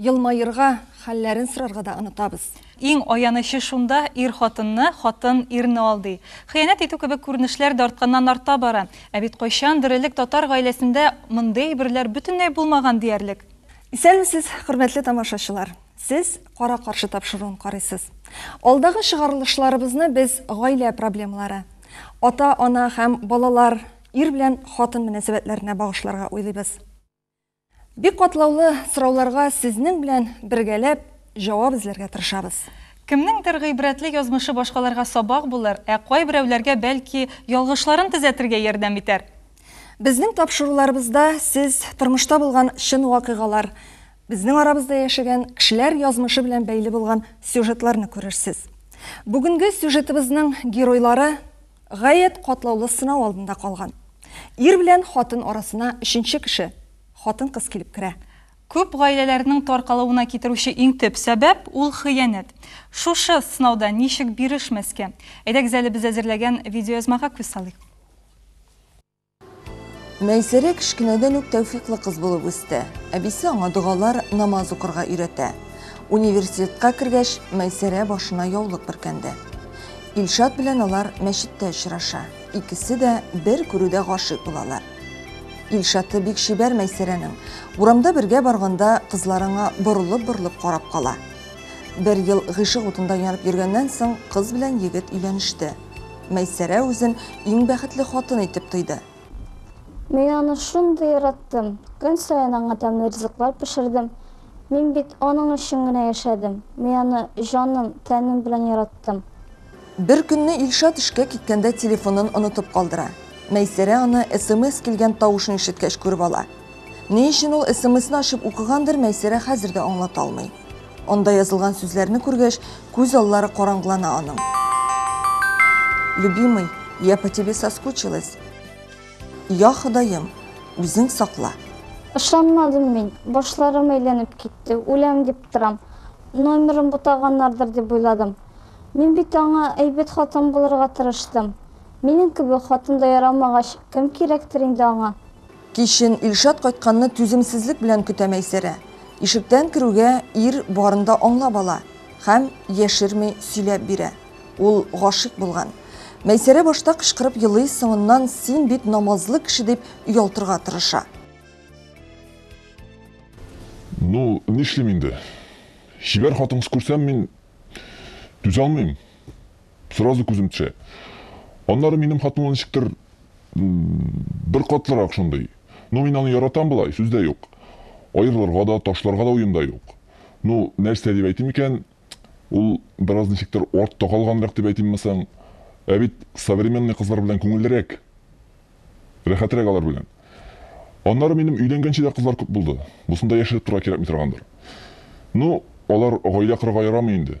Елмаерга, хәлләрен сорарга да онытабыз. Иң аянычы шунда, ир хатынны, хатын ирне алдый. Хыянәт итү кебек күренешләр дә артканнан-арта бара. Ә бит кайчандыр элек татар гаиләсендә мондый әйберләр бөтенләй булмаган диярлек. Исәнмесез, хөрмәтле тамашачылар! Сез Кара-каршы тапшыруын карыйсыз. Алдагы чыгарылышларыбызны без гаилә проблемалары, ата-ана һәм балалар, ир белән хатын мөнәсәбәтләренә багышларга уйлыйбыз. Бик катлаулы сорауларга сезнең белән бергәләп җавап эзләргә тырышабыз. Кемнеңдер гыйбрәтле язмышы башкаларга сабак булыр, ә кайберәүләргә, бәлки, ялгышларын төзәтергә ярдәм итәр. Безнең тапшыруларыбызда сез тормышта булган чын вакыйгалар, безнең арабызда яшәгән кешеләр язмышы белән бәйле булган сюжетларны күрерсез. Бүгенге сюжетыбызның геройлары, Гаять катлаулы сынау алдында калган. Ир белән хатын арасына өченче кеше, хатын-кыз килеп керә. Күп гаиләләрнең таркалуына китерүче иң төп сәбәп, ул хыянәт. Шушы сынауда ничек бирешмәскә? Әйдәгез әле без әзерләгән видеоязмага күз салыйк. Мәйсәрә кечкенәдән үк тәүфиклы кыз булып үсте. Әбисе аңа догалар, намаз укырга өйрәтә. Университетка кергәч, Мәйсәрә башына яулык бөркәнде. Илшат белән алар мәчеттә очраша. Икесе дә бер күрүдә гашыйк булалар. Илшаты бик чибәр Мәйсәрәнең. Урамда бергә барганда, кызлар аңа борылып-борылып карап кала. Бер ел гыйшык утында янып йөргәннән соң, кыз белән егет өйләнеште. Мәйсәрә үзен иң бәхетле хатын итеп тойды. Мин аны шундый яраттым, көн саен аңа тәмле ризыклар пешердем. Мин бит аның өчен генә яшәдем. Мин аны җаным, тәнем белән яраттым. Бер көнне Илшат эшкә киткәндә телефонын онытып калдыра. Мәйсәрә аны смс килгән тавышын ишеткәч күреп ала. Ни өчен ул смсны ачып укыгандыр, Мәйсәрә хәзер дә аңлата алмый. Анда язылган сүзләрне күргәч, күз аллары караңгылана аның. Любимый, я по тебе соскучилась. Я Ходаем, үзең сакла. Ышанмадым мин, башларым әйләнеп китте, үләм дип торам. Номерын бутаганнардыр дип уйладым. Мин бит аңа әйбәт хатын булырга тырыштым. Минем кебек хатын да ярамагач, кем кирәктер инде аңа? Кичен Илшат кайтканны түземсезлек белән көтә Мәйсәрә. Ишектән керүгә, ир барын да аңлап ала һәм яшерми сөйләп бирә. Ул гашыйк булган. Мәйсәрә башта кычкырып елый, соңыннан син бит намазлы кеше дип оялтырга тырыша. Ну, нишлим инде. Чибәр хатын-кыз күрсәм, мин түзә алмыйм. Сразу күзем төшә. Аннары минем хатынлы ничектер бер катлырак шундый. Ну, мин аны яратам болай, сүз дә юк. Аерылырга да, ташларга да уем да юк. Ну, нәрсә дип әйтим икән, ул бераз ничектер артта калганрак дип әйтимме соң? Ә бит современный кызлар белән күңеллерәк. Рәхәтрәк алар белән. Аннары минем өйләнгәнче дә кызлар күп булды. Бусында яшереп торырга кирәкми торгандыр. Ну, алар гаилә корырга ярамый инде.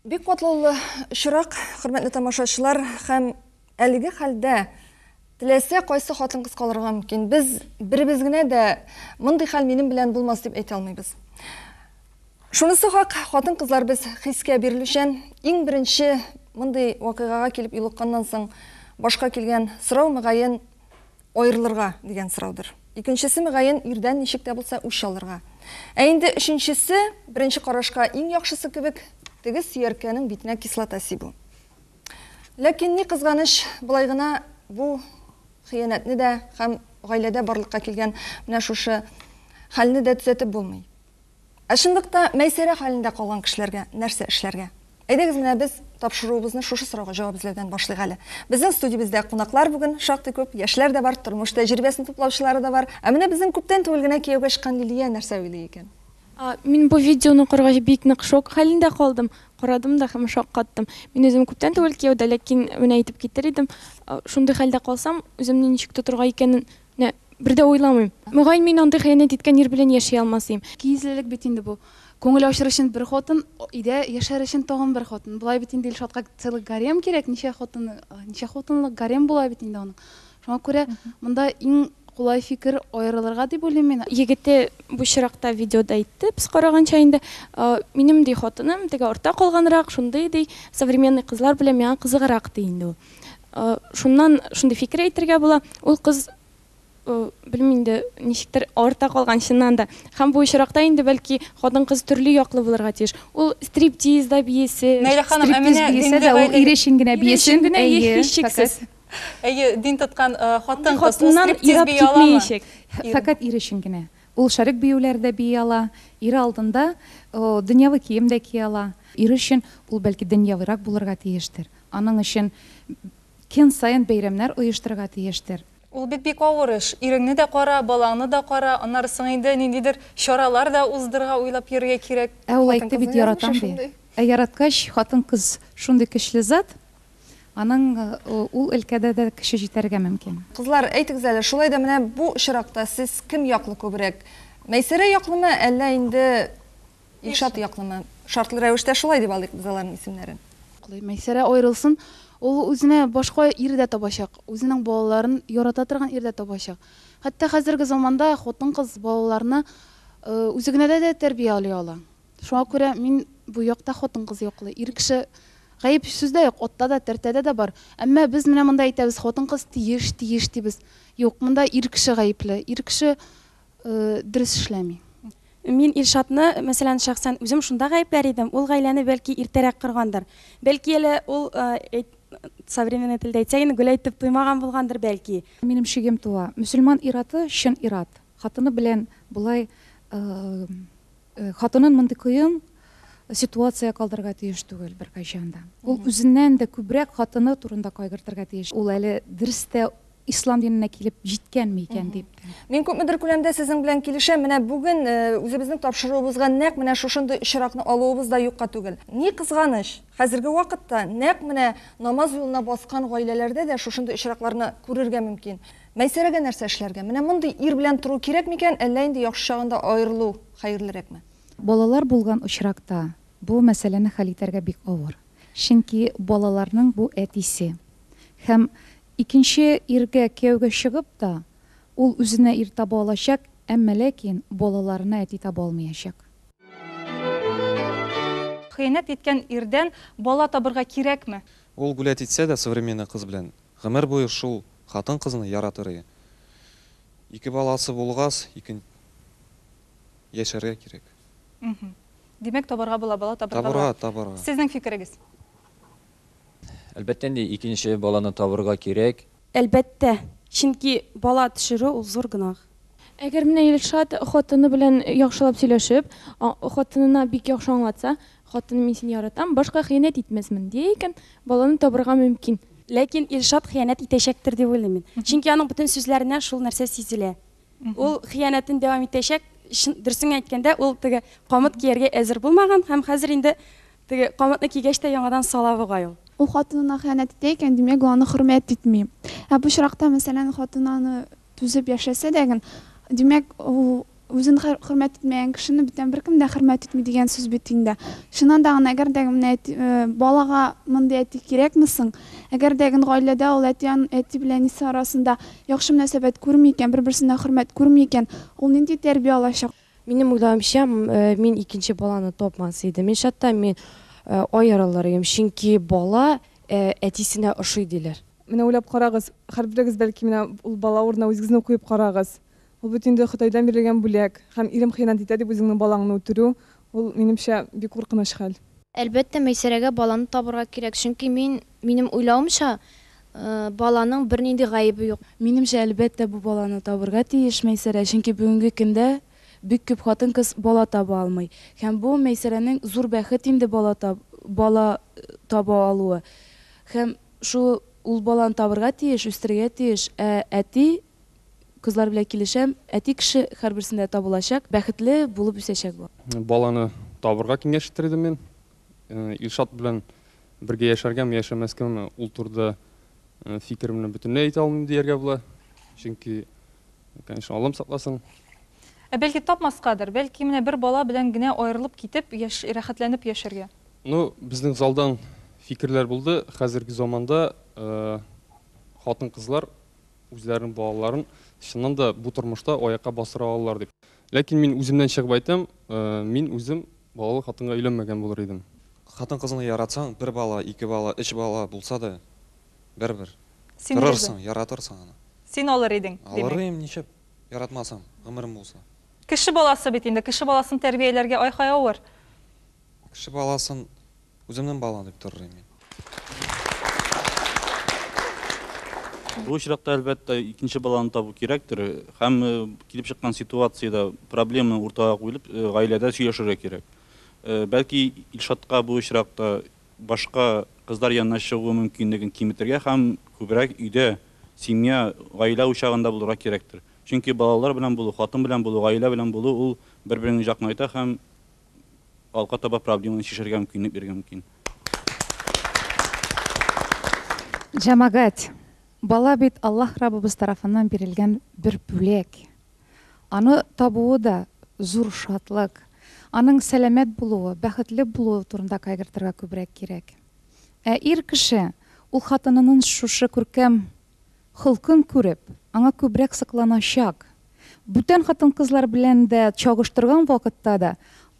Бик катлаулы очрак, хөрмәтле тамашачылар, һәм әлеге хәлдә теләсә кайсы хатын-кыз калырга мөмкин. Без беребез генә дә мондый хәл минем белән булмас дип әйтә алмыйбыз. Шунысы хак, хатын-кызлар без хискә бирелүчән, иң беренче мондый вакыйгага килеп юлыкканнан соң башка килгән сорау, мөгаен, Аерылырга, дигән сораудыр. Икенчесе, мөгаен, ирдән ничек тә булса үч алырга. Ә инде өченчесе, беренче карашка иң яхшысы кебек, теге сөяркәнең битенә кислота сибү. Ләкин, ни кызганыч, болай гына бу хыянәтне дә һәм гаиләдә барлыкка килгән менә шушы хәлне дә төзәтеп булмый. Ә чынлыкта Мәйсәрә хәлендә калган кешеләргә нәрсә эшләргә? Әйдәгез менә без тапшыруыбызны шушы сорауга җавап эзләүдән башлыйк әле. Безнең студиябездә кунаклар бүген шактый күп, яшьләр дә бар, тормыш тәҗрибәсен туплаучылары да бар. Ә менә безнең күптән түгел генә кияүгә чыккан Лилия нәрсә уйлый икән? Мин бу видеоны укыргач бик нык шок хәлендә калдым, карадым да һәм шаккаттым. Мин үзем күптән түгел кияүдә, ләкин менә әйтеп китер идем, шундый хәлдә калсам, үземне ничек тотырга икәнен, Нә, бер дә уйламыйм. Мөгаен, мин андый хыянәт иткән ир белән яши алмас ием. Кизлелек бит инде бу. Күңел ачыр өчен бер хатын, өйдә яшәр өчен тагын бер хатын. Болай бит инде Илшатка целый гарем кирәк, ничә хатын, ничә хатынлык гарем була бит инде аның. Шуңа күрә монда иң кулай фикер, аерылырга дип уйлыйм мин. Егете бу чиракта видеода әйтте, без караганча инде. Минем, ди, хатыным теге артта калганрак, шундый, ди, современный кызлар белән миңа кызыграк, ди инде ул. Шуннан шундый фикер әйтергә була, ул кыз белмим инде ничектер арта калган чыннан да һәм бу очракта инде бәлки хатын кыз төрле яклы булырга тиеш ул стриптизда биесе Нәйлә ханым ә менә биесе дә ул ире өчен генә биесен әйе һичшиксез әйе дин тоткан хатын кыз стриптиз бии аламы фәкать ире өчен генә ул шәрек биюләрдә бии ала ире алдында дөньяви кием дә кия ала ире өчен ул бәлки дөньявырак булырга тиештер Аның өчен көн саен бәйрәмнәр оештырырга тиештер. Ул бит бик авыр эш. Иреңне дә кара, балаңны да кара, аннары соң инде ниндидер чаралар да уздырырга уйлап йөрергә кирәк. Ә ул әйтте бит, яратам ди. Ә яраткач, хатын-кыз шундый көчле зат, аның ул өлкәдә дә көче җитәргә мөмкин. Кызлар, әйтегез әле, шулай да менә бу очракта сез кем яклы күбрәк? Мәйсәрә яклымы, әллә инде Илшат яклымы? Шартлы рәвештә шулай дип алыйк без аларның исемнәрен. Мәйсәрә аерылсын, ул үзенә башка ир дә табачак, үзенең балаларын ярата торган ир дә табачак. Хәтта хәзерге заманда хатын-кыз балаларны үзе генә дә дә тәрбияли ала. Шуңа күрә мин бу якта хатын-кыз яклы. Ир кеше гаеп сүздә юк, атта да, тәртәдә дә бар. Әмма без менә монда әйтәбез, хатын-кыз тиеш, тиеш дибез. Юк, монда ир кеше гаепле. Ир кеше дөрес эшләми. Мин Илшатны, мәсәлән, шәхсән үзем шунда гаепләр идем, ул гаиләне бәлки иртәрәк коргандыр. Бәлки әле ул, современный телдә әйтсәк инде, гөл әйтеп туймаган булгандыр бәлки. Минем шигем туа, мөселман ир-аты чын ир-ат, хатыны белән болай Э, хатынын мондый кыен ситуация калдырырга тиеш түгел беркайчан да. Ул үзеннән дә күбрәк хатыны турында кайгыртырга тиеш. Ул әле дөрес тә ислам диненә килеп җиткәнме икән дип. Мин күпмедер күләмдә сезнең белән килешәм. Менә бүген э, үзебезнең тапшыруыбызга нәкъ менә шушындый очракны алуыбыз да юкка түгел. Ни кызганыч, хәзерге вакытта нәкъ менә намаз юлына баскан гаиләләрдә дә шушындый очракларны күрергә мөмкин. Мәйсәрәгә нәрсә эшләргә? Менә мондый ир белән тору кирәк микән, әллә инде яхшы чагында аерылу хәерлерәкме? Балалар булган очракта бу мәсьәләне хәл итәргә бик авыр. Чөнки балаларның бу әтисе. Һәм икенче иргә кияүгә чыгып та, ул үзенә ир таба алачак, әмма ләкин балаларына әти таба алмыячак. Хыянәт иткән ирдән бала табырга кирәкме? Ул гулять итсә дә современный кыз белән, Гомер буе шул хатын-кызны яратыры. Ике баласы булгас, икенче яшәргә кирәк. Мхм. Димәк, табарга була, бала табарга була. Табарга, табарга. Сезнең фикерегез? Әлбәттә инде, икенче баланы табарга кирәк. Әлбәттә, чөнки бала төшерү ул зур гөнаһ. Әгәр менә Илшат хатыны белән яхшылап сөйләшеп, хатынына бик яхшы аңлатса, Хатыным мин сине яратам, башка хыянәт итмәсмен, дия икән, баланы табырга мөмкин. Ләкин Илшат хыянәт итәчәктер дип уйлыйм мин. Чөнки аның бөтен сүзләреннән шул нәрсә сизелә. Ул хыянәтен дәвам итәчәк. Чын, дөресен әйткәндә, ул теге камыт кияргә әзер булмаган һәм хәзер инде теге камытны кигәч тә яңадан сала бугай ул. Ул хатынына хыянәт итә икән, димәк, ул аны хөрмәт итми. Ә бу очракта, мәсәлән, хатыны аны Түзеп яшәсә дә гын, димәк, ул үзен хөрмәт итмәгән кешене бүтән беркем дә хөрмәт итми дигән сүз бит инде. Чыннан да гын, әгәр дә гын менә әти, балага мондый әти кирәкме соң? Әгәр дә гын гаиләдә ул әти, әти белән әнисе арасында яхшы мөнәсәбәт күрми икән, бер-берсенә хөрмәт күрми икән, ул нинди тәрбия алачак? Минем уйлавымча, мин икенче баланы тапмас идем. Ин шатта мин аерылыр идем, чөнки бала әтисенә ошый диләр. Менә уйлап карагыз, хәрберегез бәлки менә ул бала урынына үзегезне куеп карагыз. Ул бит инде Ходайдан бирелгән бүләк, һәм ирем хыянәт итә дип үзеңнең балаңны үтерү, ул, минемчә, бик куркыныч хәл. Әлбәттә, Мәйсәрәгә баланы табырга кирәк, чөнки мин, минем уйлавымча, баланың бернинди гаебе юк. Минемчә, әлбәттә, бу баланы табырга тиеш Мәйсәрә, чөнки бүгенге көндә бик күп хатын-кыз бала таба алмый. Һәм бу, Мәйсәрәнең зур бәхет инде бала таба алуы. Һәм. Шу ул баланы табырга тиеш, үстерергә тиеш, ә әти, кызлар белән килешәм, әти кеше хәрберсендә табылачак, бәхетле булып үсәчәк бу. Баланы табырга киңәш итер идем мин. Илшат белән бергә яшәргәме, яшәмәскәме, ул турыда фикеремне бөтенләй әйтә алмыйм дияргә була. Чөнки, конечно, Аллам сакласын. Ә бәлки тапмаскадыр, бәлки менә бер бала белән генә аерылып китеп, яшь, рәхәтләнеп яшәргә. Ну, безнең залдан фикерләр булды, хәзерге заманда хатын-кызлар үзләренең балаларын чыннан да бу тормышта аякка бастыра алалар дип. Ләкин мин үземнән чыгып әйтәм, мин үзем балалы хатынга өйләнмәгән булыр идем. Хатын-кызны яратсаң, бер бала, ике бала, өч бала булса да, бер-бер торырсың, яратырсың аны. Син алыр идең, димәк? Алыр идем, нишләп яратмасам, гомерем булса. Кеше баласы бит инде, кеше баласын тәрбияләргә ай-һай авыр. Кеше баласын үземнең балам дип торыр идем мин. Бу очракта, әлбәттә, икенче баланы табу кирәктер. Һәм килеп чыккан ситуациядә проблема уртага куелып, гаиләдә сөйләшергә кирәк. Бәлки Илшатка бу очракта башка кызлар янына чыгу мөмкинлеген киметергә һәм күбрәк өйдә, семья, гаилә учагында булырга кирәктер. Чөнки балалар белән булу, хатын белән булу, гаилә белән булу ул бер-береңне җакнайта һәм. алга таба проблеманы чишәргә мөмкинлек бирергә мөмкин. Җәмәгать, бала бит Аллаһ Раббыбыз тарафыннан бирелгән бер бүләк. Аны табуы да зур шатлык. Аның сәламәт булуы, бәхетле булуы турында кайгыртырга күбрәк кирәк. Ә ир кеше, ул хатынынын шушы күркәм Холкын күреп, аңа күбрәк сокланачак. Бүтән хатын-кызлар белән дә чагыштырган вакытта да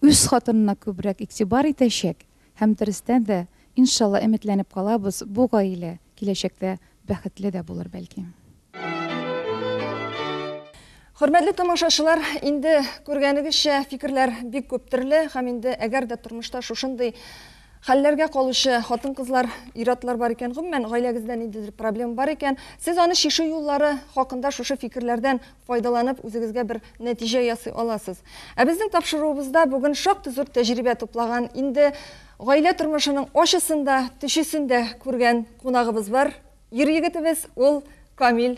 үз хатынына күбрәк игътибар итәчәк һәм дөрестән дә, иншалла, өметләнеп калабыз, бу гаилә киләчәктә бәхетле дә булыр, бәлки. Хөрмәтле тамашачылар, инде күргәнегезчә, фикерләр бик күп төрле һәм инде әгәр дә тормышта шушындый Хәлләргә калучы хатын-кызлар, ир-атлар бар икән, гомумән, гаиләгездә ниндидер проблема бар икән, сез аны чишү юллары хакында шушы фикерләрдән файдаланып үзегезгә бер нәтиҗә ясый аласыз. Ә безнең тапшыруыбызда бүген шактый зур тәҗрибә туплаган, инде гаилә тормышының ачысын да, төчесен дә күргән кунагыбыз бар. Ир егетебез, ул Камил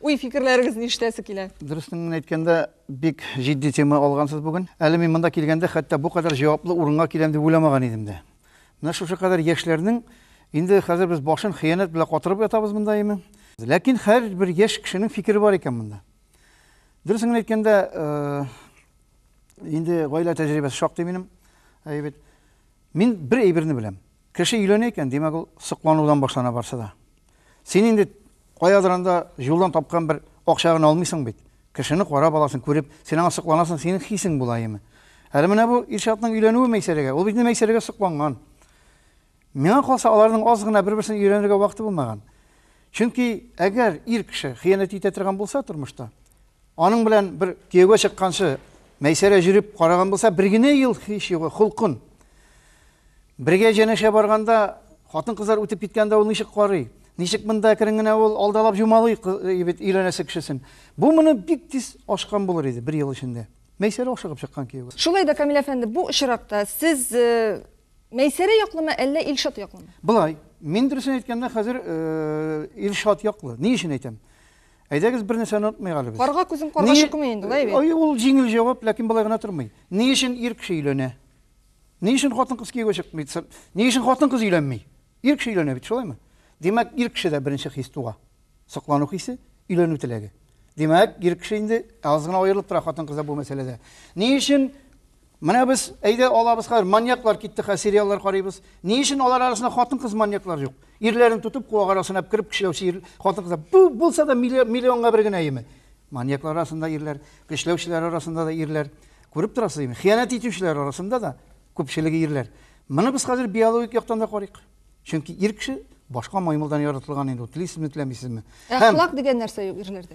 Уй, фикерләрегез ништәсе килә? Дөрестен генә әйткәндә, бик җитди тема алгансыз бүген. Әле мин монда килгәндә хәтта бу кадәр җаваплы урынга киләм дип уйламаган идем дә. Менә шушы кадәр яшьләрнең инде хәзер без башын хыянәт белән катырып ятабыз монда име? Ләкин һәр бер яшь кешенең фикере бар икән монда. Дөрестен генә әйткәндә, э, инде гаилә тәҗрибәсе шактый минем. Әйбәт. Мин бер әйберне беләм. Кеше өйләнә икән, димәк, ул сокланудан башлана барсы да. Син инде каядыр анда юлдан тапкан бер акча гына алмыйсың бит. Кешене карап аласың, күреп, син аңа сокланасың, синең хисең була яме. Әле менә бу Илшатның өйләнүе Мәйсәрәгә, ул бит инде Мәйсәрәгә сокланган. Миңа калса, аларның аз гына бер-берсен өйрәнергә вакыты булмаган. Чөнки әгәр ир кеше хыянәт итә торган булса тормышта, Аның белән бер кияүгә чыкканчы Мәйсәрә җөреп караган булса, бер генә ел һич югы, холкын. Бергә җәнәшә барганда хатын-кызлар үтеп киткәндә ул ничек карый? Ничек монда керен генә ул алдалап җумалый бит өйләнәсе кешесен. Бу моны бик тиз ашкан булыр иде бер ел эчендә. Мәйсәрә ашыгып чыккан кияүгә. Шулай да, Камил әфәнде, бу очракта сез Мәйсәрә яклымы, әллә Илшат яклымы? Болай, мин дөресен әйткәндә, хәзер Илшат яклы. Ни өчен әйтәм? Әйдәгез бер нәрсәне онытмыйк әле без. Карга күзен карга чыкмый инде, лай бит. Ай, ул җиңел җавап, ләкин болай гына тормый. Ни өчен ир кеше өйләнә? Ни өчен хатын-кыз кияүгә чыкмый? Ни өчен хатын-кыз өйләнми? Ир кеше өйләнә бит, шулаймы? Димәк, ир кешедә беренче хис туа. Соклану хисе, өйләнү теләге. Димәк, ир кеше инде аз гына аерылып тора хатын-кызда бу мәсьәләдә. Ни өчен Менә без, әйдә алабыз хәзер, маньяклар китте, хәзер сериаллар карыйбыз. Ни өчен алар арасында хатын-кыз маньяклар юк? Ирләрен тотып, куак арасына кереп көчләүче хатын-кызлар. Бу булса да миллионга бер генә име? Маньяклар арасында ирләр, көчләүчеләр арасында да ирләр. Күреп торасыз име? Хыянәт итүчеләр арасында да күпчелеге ирләр. Моны без хәзер биологик яктан да карыйк. Чөнки ир кеше башка маймылдан яратылган инде, телисезме, теләмисезме? Әхлак дигән нәрсә юк ирләрдә.